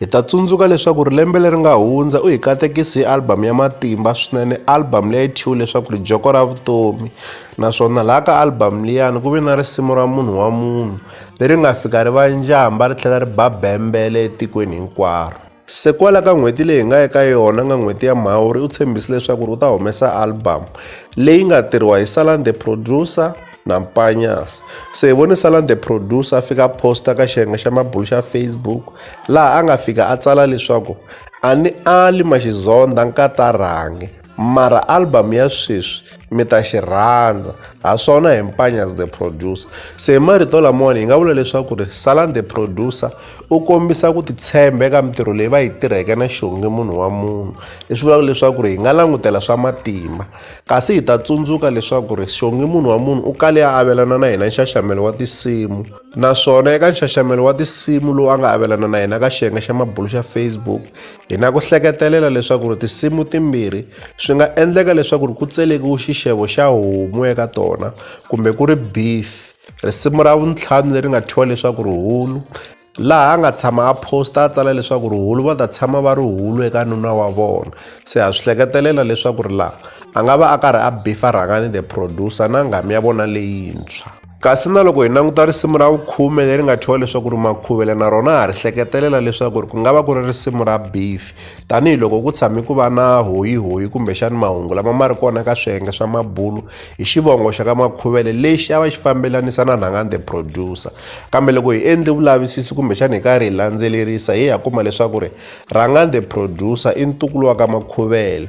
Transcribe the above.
Hi ta tsundzuka leswaku ri lembe leri nga hundza u hi katekisi hi album ya matimba swinene album leyi thyiwe leswaku ri joko ra vutomi naswona laha ka album liyani ku ve na risimu ra munhu wa munhu leri nga fika ri va njhamba ri tlhela ri ba bembele etikweni hinkwaro se kwala ka n'hweti leyi hi nga eka yona nga n'hweti ya mhawuri u tshembise leswaku ri u ta humesa album leyi nga tirhiwa hi salan the producer na mpanyas so hi vone salan the producer a fika a posta ka xiyenge xa mabulu xa facebook laha a nga fika a tsala leswaku a ni ali maxizonda nkatarhangi mara album ya sweswi mi ta xi rhandza ha swona hi mpanyas the producer se hi marito lamawani hi nga vula leswaku ri salan the producer u kombisa ku titshemba eka mintirho leyi va yi tirheke na xonge munhu wa munhu leswi vulaka leswaku ri hi nga langutela swa matimba Kasi hi ta tsundzuka leswaku ri xongi munhu wa munhu u kale a avelana na hina nxaxamelo wa tinsimu naswona eka nxaxamelo wa tinsimu lowu a nga avelana na hina ka xiyenge xa mabulo xa Facebook hi na ku hleketelela leswaku ri tinsimu timbirhi swi nga endleka leswaku ri ku tselekiwe xixevo xa homu eka tona kumbe ku ri beef risimu ra vuntlhanu leri nga thyiwa leswaku ri hulu laha a nga tshama a posta a tsala leswaku ri hulu va ta tshama va ri hulu eka nuna wa vona se ha swi hleketelela leswaku ri laha a nga va a karhi a bifa rhangani the producer na nghamu ya vona leyintshwa kasi na loko hi languta risimu ra vukhume leri nga thyiwa leswaku ri makhuvela na rona ha ri hleketelela leswaku ri ku nga va ku ri risimu ra bifi tanihi loko ku tshame ku va na hoyihoyi kumbexani mahungu lama ma ri kona ka swiyenge swa mabulu hi xivongo xa ka makhuvele lexi a va xi fambelanisa na nhangani the producer kambe loko hi endli vulavisisi kumbexani hi karhi hi landzelerisa hi ya kuma leswaku ri rhangani the producer i ntukulu wa ka makhuvele